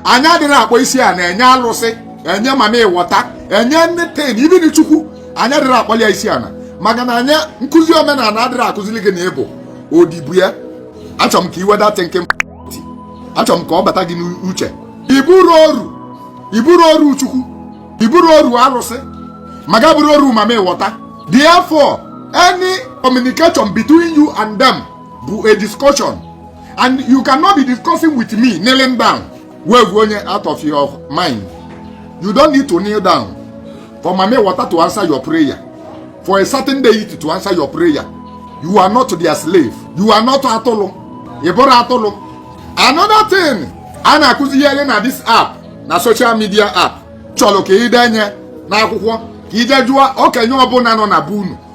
anyị adịrọ akpọ isi ana enye alụsị enye mami wọta enye anything even chukwu anyị adịrọ akpọli ya isi ana maka na anya nkụzi omenana adịrọ akụzili gị na ị bụ odibo ya achọrọ m ka i wedata nke achọrọ m ka ọ bata gị n'uche ị bụrọ oru ị bụrọ oru chukwu ị bụrọ oru alụsị ma ga-abụrụ oru mami wọta therefore any communication between you and them bụ a discussion and you cannot be discussing with me kneeling down wave onye out of your mind you don't need to kneel down for mami water to answer your prayer for a certain deity to answer your prayer you are not their slave you are not atụlụ ị bụrọ atụlụ another thing a na-akụzigheri na this app na social media app chọrọ ka ị denye n'akwụkwọ ka ị je jụọ okenye ọbụla nọ na be unu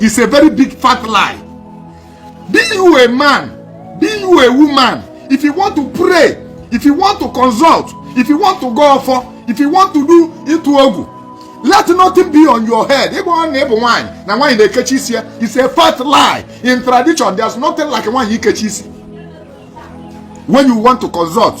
is a very big fat lie be you a man be you a woman if you want to pray if you want to consult if you want to go ofo if you want to do itu ogu let nothing be on your head ịgba ọ na ịbụ nwaanyị na nwaanyị na-ekechi isi ya is a fat lie in tradition there's nothing like nwaanyị ikechi isi when you want to consult